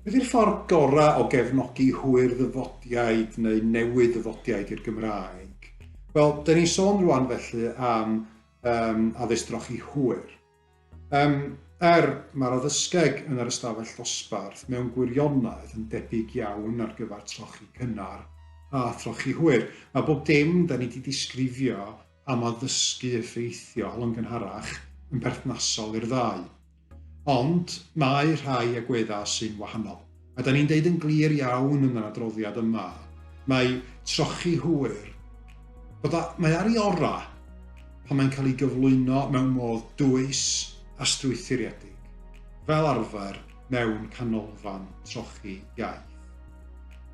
Beth yw'r ffordd gorau o gefnogi hwyr ddyfodiaid neu newid ddyfodiaid i'r Gymraeg? Wel, dyn ni'n sôn rwan felly am um, addysg drochi hwyr. Um, er mae'r addysgeg yn yr ystafell ddosbarth mewn gwirionedd yn debyg iawn ar gyfer trochi cynnar a throchi hwyr. Mae bob dim da ni wedi disgrifio am addysgu effeithiol yn gynharach yn berthnasol i'r ddau. Ond mae rhai agweddau sy'n wahanol. A da ni'n deud yn glir iawn yn yr adroddiad yma, mae trochi hwyr, bod a, mae ar ei orau pan mae'n cael ei gyflwyno mewn modd dwys a strwythuredig. Fel arfer, mewn canolfan trochi iaith.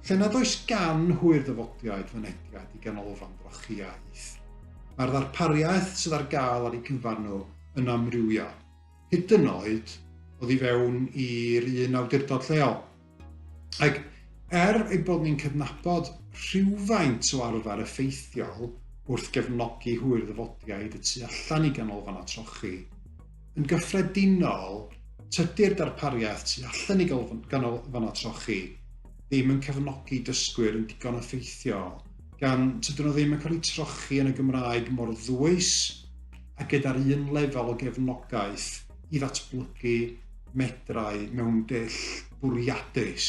Lle nad oes gan hwyr ddyfodiaid fynediad i ganolfan drochi iaith, mae'r ddarpariaeth sydd ar gael ar eu cyfan nhw yn amrywiol, hyd yn oed oddi fewn i'r un awdurdod lleol. Ac er ei bod ni'n cydnabod rhywfaint o arfer effeithiol wrth gefnogi hwyr ddyfodiaid y tu allan i ganolfannau trochi, Yn gyffredinol, tydi'r darpariaeth tu allan i ganolfannau trochi ddim yn cefnogi dysgwyr yn digon effeithiol, gan tydyn nhw ddim yn cael eu trochi yn y Gymraeg mor ddwys a gyda'r un lefel o gefnogaeth i ddatblygu medrau mewn dull bwriadus.